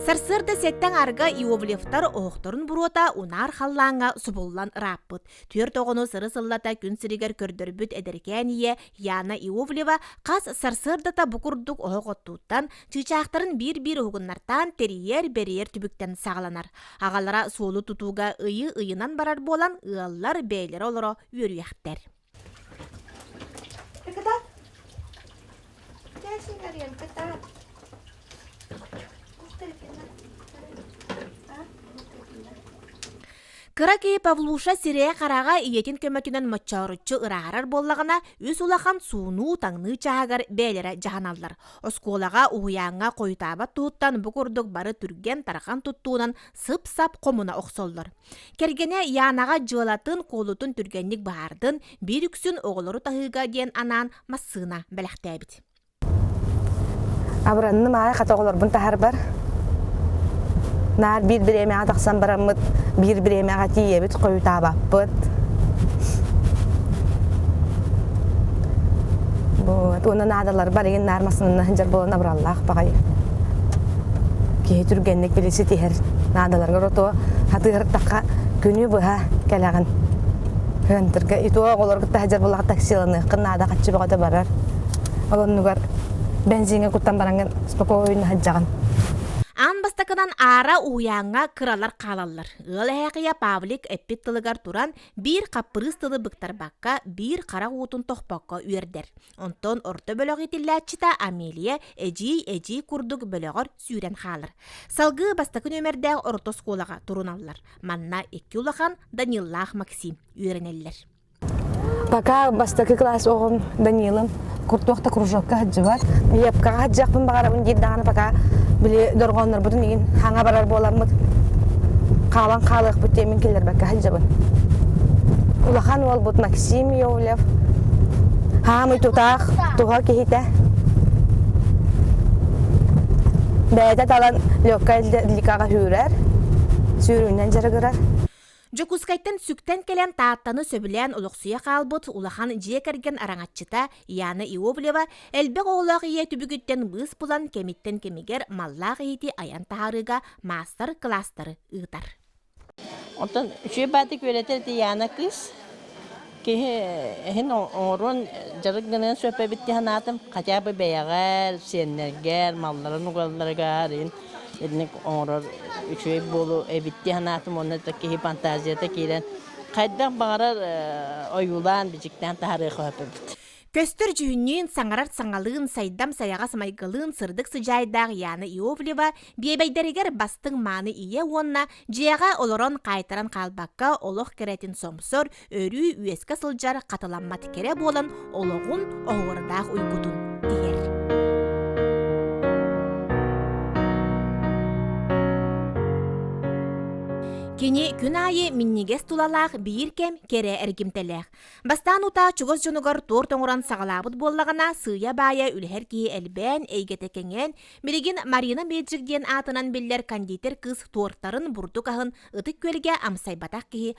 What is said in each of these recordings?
Сарсыарда сеттен арга Иоблевтар оһохторун буруота унаар халлааҥга субуллан ырааппыт. Түөрт оҕону сыры сыллата күн сиригэр көрдөрбүт эдэркээн ийэ Яна Иовлева хас сарсыардата бу курдук оһох оттууттан Чыычаахтарын биир-биир уһугуннартаан тэрийэр-бэрийэр түбүктэн саҕаланар. Аҕалара суолу тутууга ыйы ыйынан барар буолан, ыаллар бэйэлэрэ олоро үөрүйэхтэр. Кытаат. Кээсин арыйан кытаат. Кыра киһи Павлуша сирэйэ-хараҕа ийэтин көмөтүнэн моччооруччу ырааһырар буоллаҕына, үс улахан суунуу-таҥныы чааһыгар бэйэлэрэ дьаһаналлар. Оскуолаҕа, уһуйааҥҥа хойутаабат туһуттан бу курдук бары түргэн-тарҕан туттуунан сып-сап хомуна охсоллор. Кэргэнэ Янаҕа дьыалатын куолутун түргэнник быһаардын, биир үксүн оҕолору таһыыга диэн анаан массыына бэлэхтээбит. Абыранным аай хата оҕолорбун таһарбар наар биир бириэмэҕэ тахсан бараммыт биир бириэмэҕэ тиийэбит хойутаабаппыт вот уонна наадалар барыгын наар массынына сылдьар буолан абыраллаах баҕайы киһи түргэнник били ситиһэр наадаларгар отоо атыыртахха күнү быһа кэлэҕин хантырга иту оҕолор кытта сылдьар булах таксиланыаххын наада хаччы бөҕөтө барар олоннугар бензиҥҥэ куттан бараҥҥын спокойно сылдьаҕын аан бастакынан аара уһуйааҥҥа кыралар хаалаллар ыал эһэкийэ павлик эппит тылыгар туран биир хаппырыыс тылы быктарбакка биир харах уутун тохпокко үөрдэр онтон орто бөлөх итиллээччитэ амелия эдьиий эдьиий курдук бөлөҕөр сүүрэн хаалар салгыы бастакы нүөмэрдээх орто оскуолаҕа туруналлар манна икки улахан даниллаах максим үөрэнэллэр Пока бастакы класс оҕом Данилым куртуохта кружокка сылдьыбат. Лепкаҕа сылдьахпын баҕарабын диир даҕаны пока били дорҕооннорбутун игин хаҥа барар буоламмыт хаалан хаалыахпыт диэмин киллэрбэккэ сылдьабын. Улахан уолбут Максим Йовлев хаамый тутаах туһа киһитэ бэйэтэ талан легкая атлетикаҕа сүүрэр сүүрүүнэн дьарыгырар Дьокуускайтан сүктэн кэлэн Тааттаны сөбүлээн олохсуйа хаалбыт улахан дьиэ кэргэн араҥаччыта Яна Иоблева элбэх оҕолоох ийэ түбүгүттэн быыс булан кэмиттэн кэмигэр маллаах иһити айан таһаарыыга маастар кылаастары ыытар. Оттон үчүгэй баата күөлэтэ Яна кыыс Киһи иһин оҥоруон дьарык гыныан сөп эбит дии санаатым. Хотя бы бэйэҕэр, сиэннэргэр, малларыгар итинник оҥорор үчүгэй буолуо эбит дии санаатым уонна киһи фантазията киирэн хайдах баҕарар ойуулаан, бичиктээн таһаарыахха сөп эбит. Көстөр дьүһүннүүн, саҥарар саҥалыын, сайдам сайаҕас майгылыын сырдык сыдьаайдаах Яна Иовлева биэбэйдэригэр бастыҥ мааны ийэ уонна дьиэҕэ олорон хаайтаран хаалбакка олох кэрэтин сомсор, өрүү үөскэ сылдьар хатыламмат кэрэ буолан олоҕун оһуорадаах уйгутун тиһэр. Кини күн аайы миннигэс тулалаах биир кэм кэрэ эргимтэлээх. Бастаан утаа чугас дьонугар туор тоҥуран саҕалаабыт буоллаҕына, сыыйа-баайа үлэһэр киһи элбээн, эйгэтэ кэҥээн, билигин Марина Меджик диэн аатынан биллэр кондитер кыыс туортарын бурдук аһын ытык күөлгэ амсайбатах киһи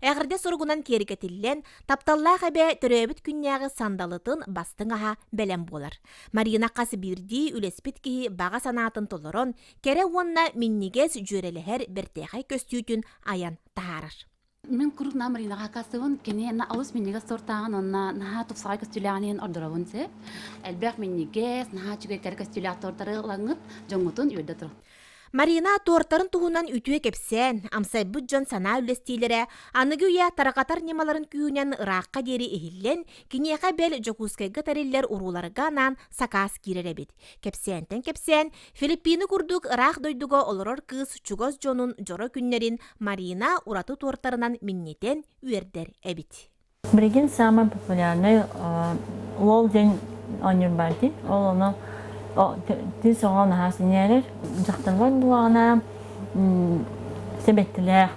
Эҕэрдэ суругунан киэргэтиллэн, тапталлаах эбэ төрөөбүт күннээҕи сандалытын бастыҥ аһа бэлэм буолар. Марина хас биирдии үлэспит киһи баҕа санаатын толорон, кэрэ уонна минньигэс дьүөрэлэһэр бэртээхэй көстүүтүн айан таһаарар. Мен курупна Маринаға касыбын, кенена алыс миннигес сортағын онна наһаа тупсаҕай көстүүлээҕин иһин ордоробун сеп. Элбэх миннигес, наһаа чүгэй кэр көстүүлээх тортары лаңыт, жоңутун үйөрдө тұрық. Марина туортарын туһунан үтүө кэпсээн, амсайбыт дьон санаа үллэстиилэрэ аныгы үйэ тарҕатар ньымаларын күүһүнэн ыраахха диэри иһиллэн, киниэхэ бэл Дьокуускайга тэриллэр урууларга анаан сакаас киирэр эбит. Кэпсээнтэн кэпсээн, Филиппины курдук ыраах дойдуга олорор кыыс чугас дьонун дьоро күннэрин Марина ураты туортарынан минньитэн үөрдэр эбит. Билигин самый популярный уол день оонньуур баар дии. Ол ону тин соҕо наһаа синээрэр. Дьахтарбар буҕаҕына сибэттилээх.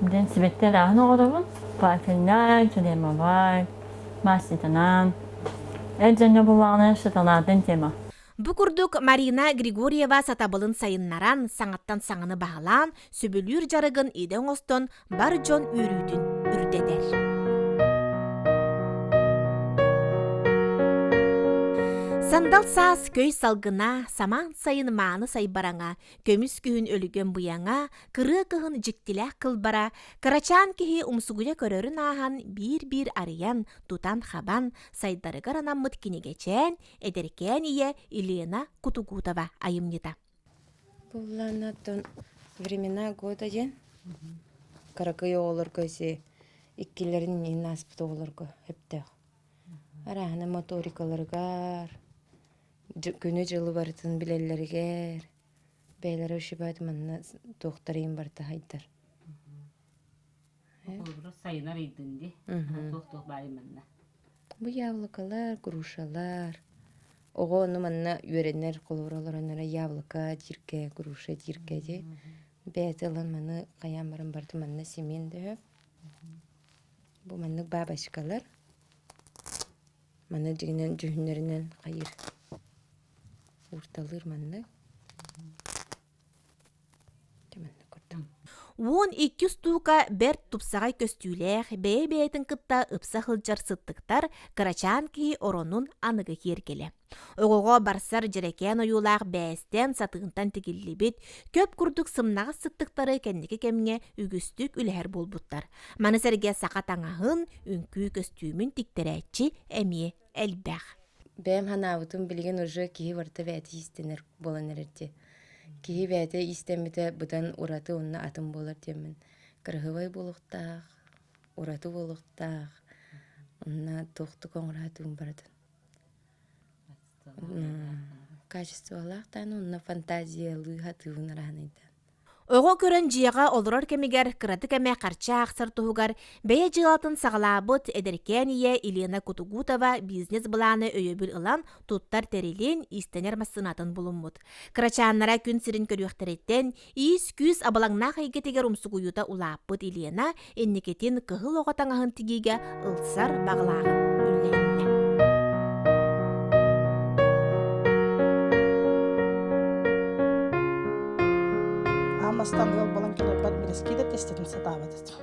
Дэн сибэттэр ааһын оҕоробун. Пафельнай, чудемовай, маститанан. Эджэнне буҕаҕына шоколадын тема. Бу курдук Марина Григорьева сатабылын сайыннаран, саҥаттан саҥаны баһылаан, сөбүлүүр дьарыгын идэ оҥостон бар дьон үөрүүтүн үрдэтэр. Сандал саас көй салгына, самаан сайын мааны сайбараҥа, көмүс күһүн өлүгөн буяңа, кырыа кыһын дьиктилээх кылбара, кырачаан киһи умсугуйа көрөрүн ааһан биир-биир арыйан, тутан-хабан, сайдарыгар анаммыт кинигечээн, эдэркээн ийэ Елена Кутугутова айымньыта. Буоллаана тон времена года диэн кыракый оҕолорго ити иккилэрин иһин ааспыт оҕолорго өптөөх. Арааһына моторикаларыгар, күнү-дьылы барытын билэллэригэр бэйэлэрэ ушибают манна туохтарыйын барыта сайдар. холобура сайынар ыйдын ди туох туох баайын манна бу яблокалар грушалар оҕо ону манна үөрэнэр холобура олоронора яблоко дирке груша дирке ди бэйэтэ ылан маны хайаан баран барыта манна симин дөһө бу маннык бабочкалар маны дигинен дьүһүннэринэн хайыр уурталыыр маннык уон икки стука бэрт тупсаҕай көстүүлээх бэйэ-бэйэтин кытта ыкса сылдьар сыттыктар кырачаан киһи оронун аныгы киэргэлэ оҕоҕо барсар дьэрэкээн ойуулаах бээстээн сатыынтан тигиллибит көп курдук сымнаҕас сыттыктары кэнники кэмҥэ үгүстүк үлэһэр буолбуттар маны сэргэ саха таҥаһын үҥкүү көстүүмүн тиктэрээччи эмиэ элбэх бэйэм санаабытым билигин уже киһи барыта бэйэтэ иистэнэр буолан эрэр дии киһи бэйэтэ иистэммитэ быдан ураты онно атын буолар диэммин кыраһыабай буолуохтаах ураты буолуохтаах онно туохтук оҥороотугун барытын качестволаах даан онно фантазиялыы сатыыбын араһынайдаан Оҕо көрөн дьиэҕэ олорор кэмигэр кыратык эмэ харчы аахсар туһугар бэйэ дьыалатын саҕалаабыт эдэркээн ийэ Елена Кутугутова бизнес-былааны өйөбүл ылан туттар тэрилин иистэнэр массыынатын булуммут. Кырачааннара күн сирин көрүөхтэриттэн иис-күүс абылаҥнаах эйгэтигэр умсугуйуута улааппыт Елена инникитин кыһыл оҕо таҥаһын тигиигэ ылсар баҕалааҕын үллэһиннэ. Аам астаан ыал болон келарбат билэскиидэ тестетин сатаабат этим.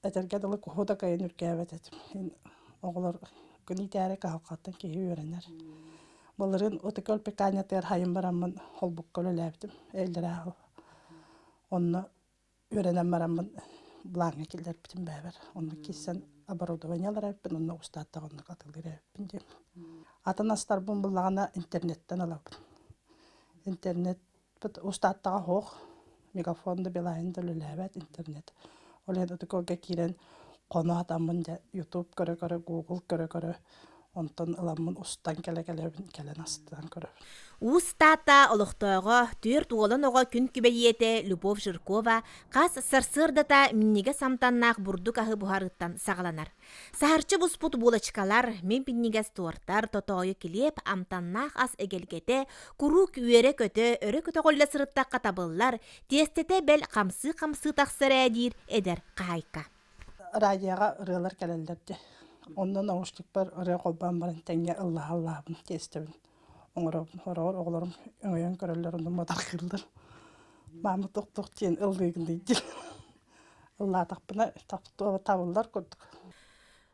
Этэргэ дылы куһу да кайын үргээбэт этим. Оҕолор күнүйтээри каһалхаттан киһи үөрэнэр. Былырын отыкөл пеканятыгар хайын бараммын холбукка үлэлээбитим. Эллерааһы. Онно Үөрэнэн бараммын былааҥҥа киллэрбитим бэйэбэр. Онно киирсэн оборудованиелар эбиппин онно устааттаҕа онно атыылыыр эбиппин диэн. Атын астарбын буллаҕына интернеттэн ылабын. Интернетпыт устааттаҕа оһох, мегафон да билайын да үлэлээбэт интернет. Ол иһин ытык ыалга киирэн хоно атаммын дьэ ютуб көрө-көрө, гугл көрө-көрө Онтон ыламмын устан кэлэ-кэлэбин кэлэн астынан көрөбүн. Уус Таата олохтооҕо, түөрт уолан оҕо күн күбэйиэтэ Любовь Жиркова хас сарсыардата минньигэс амтаннаах бурдук аһы буһарыыттан саҕаланар. Саһарчы буспут булочкалар, мин минньигэс туортар, тотоойу килиэп, амтаннаах ас эгэлгэтэ, куруук үөрэ-көтө, өрө көтөҕүллэ сырыттахха табыллар, тиэстэтэ бэл хамсыы-хамсыы тахсар ээ диир эдэр хаһаайка. радиоҕа ырыалар кэлэллэр дьэ онно наушникпар ырыа холбоон баран тэҥҥэ ыллаһа ыллаһабын тиэстэбин оҥоробун хороҕор оҕолорум өҥөйөн көрөллөр онно мытархыыллар маама туох туох диэн ыллыыгыный диэн ыллаатахпына табыллар курдук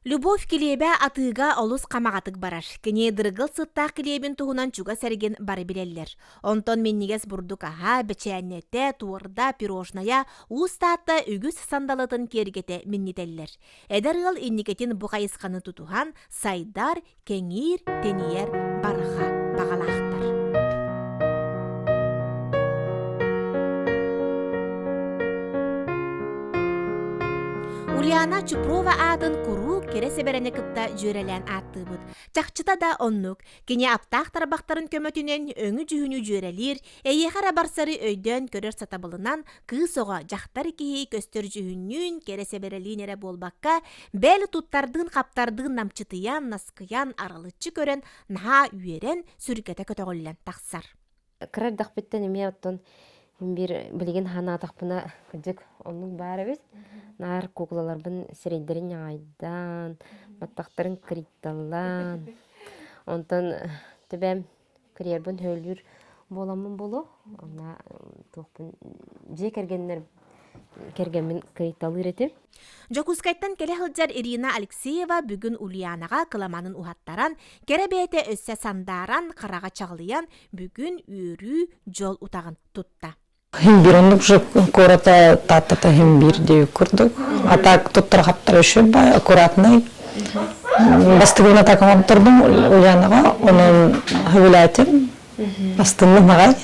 Любовь килиэбэ атыыга олус хамаҕатык барар. Кини дыргыл сыттаах килиэбин туһунан чугас эргин бары билэллэр. Онтон миннигэс бурдук аһа, бэчээннэтэ, туорда, пирожная, уус таатта үгүс сандалытын киэргэтэ миннитэллэр. Эдэр ыал инникитин бу хайысханы тутуһан сайдар, кэҥиир, тэнийэр бараха баҕалаахтар. Ульяна Чупрова аатын куруук кэрэ сэбэрэни кытта дьүөрэлээн ааттыыбыт. Чахчыта да оннук. Кини аптаах тарбахтарын көмөтүнэн өҥү-дьүһүнү дьүөрэлиир, эйиэхэ эрэ барсары өйдөөн көрөр сатабылынан кыыс оҕо, дьахтар киһи көстөр дьүһүннүүн, кэрэ сэбэрэлиин эрэ буолбакка, бэл туттардыын-хаптардыын намчытыйан, наскыйан, аралыччы көрөн, наһаа үөрэн, сүргэтэ көтөҕүллэн тахсар. кыра эрдэхпиттэн эмиэ оттон мин биир билигин санаатахпына кырдьык оннук баар эбит наар куукулаларбын сирэйдэрин ньаҕайдаан баттахтарын кырыйталлаан онтон төбөм карьербын сөбүлүүр буоламмын буолуо онно туохпун дьиэ кэргэннэр кэргэммин кыйталыыр этим Дьокуускайтан кэлэ сылдьар Ирина Алексеева бүгүн Ульянаҕа кыламанын уһаттаран, кэрэ бэйэтэ өссө сандааран, хараҕа чаҕылыйан, бүгүн үөрүү дьол утаҕын тутта. Химбир оннук же куората Тааттата химбирди курдук. А так туттара хаптара үшөп аккуратный. Бастыгына так оңоптурдум Ульянаҕа, онон хөвүлээтим. Бастынны нагай.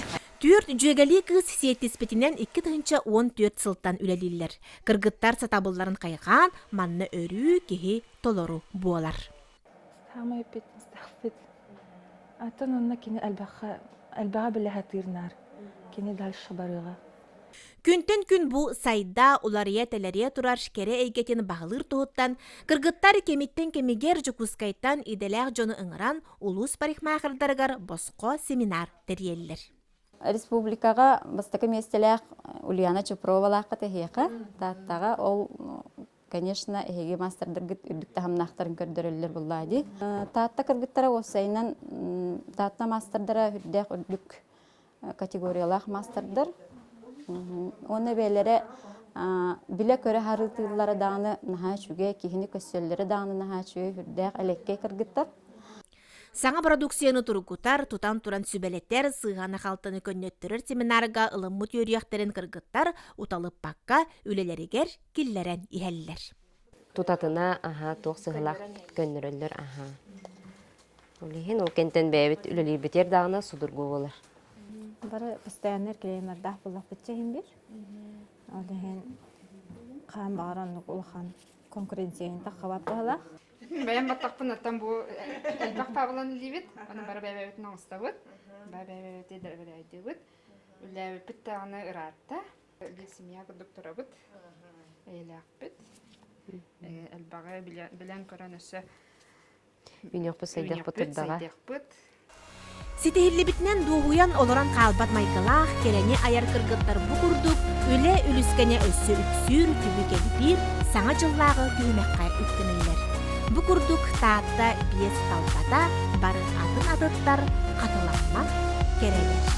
Түөрт дьүөгэлии кыыс сиэттиспитинэн икки тыһыынча уон түөрт сылтан үлэлииллэр. Кыргыттар сатабылларын хайҕаан, манна өрүү киһи толору буолар. Саамай эппиэтинэстээхпит атын онно кини элбэххэ элбэҕэ билэ сатыыр наар кини дальше барыаҕа Күнтэн күн бу сайда, уларыйа-тэлэрийэ турар кэрэ эйгэтин баһылыыр туһуттан кыргыттар кэмиттэн кэмигэр Дьокуускайтан идэлээх дьону ыҥыран улуус парикмахердарыгар босхо семинар тэрийэллэр. Республикаҕа бастакы миэстэлээх Ульяна Чупровалаахха тэһиэхэ, Тааттаҕа ол конечно эһиги маастардаргыт үрдүк таһымнаахтарын көрдөрөллөр буллаа дии. Таатта кыргыттара уопсайынан Таатта маастардара үрдээх үрдүк категориялаах маастардар. Уонна бэйэлэрэ билэ-көрө харытыыллара даҕаны наһаа үчүгэй, киһини көссөллөрө даҕаны наһаа үчүгэй үрдээх элэккэй кыргыттар. Саҥа продукцияны тургутар, тутан туран сүбэлэтэр, сыһыан ахалтаны көннөттөрөр семинарга ылыммыт үөрүйэхтэрин кыргыттар уталыппакка үлэлэригэр киллэрэн иһэллэр. Тутатына аһа туох сыһылаах көннөрөллөр аха. Олиһин ол кентен бэйэбит үлэлиирбитер даана судургу болар. Бары постояннар клиенердах булах битчехин бир. Олиһин хаан бағаран улахан конкуренцияны таққабап бэйэм баттахпыннаттан бу элбэх пабылан илиибит оны бары бэйэбитин оҥостобут баа бэйэбэти дэлбэлэйдибит үллээбиппит дааны ыраатта бир семья курдук турабыт эйэлээхпит элбэҕи билэн көрөн өссө Үйнөкпүт сайдыахпыт сырдаҕа. Ситиһиллибитинэн дуоһуйан олорон хаалбат майгылаах, кэрэни айар кыргыттар бу курдук үлэ үлүскэнэ өссө үксүүр, түбүк элбиир, саҥа дьыллааҕы түһүмэххэ үктэнэллэр. Бу курдук Таатта биэс талбата бары атын атыттар хатыламмат кэрэлэр.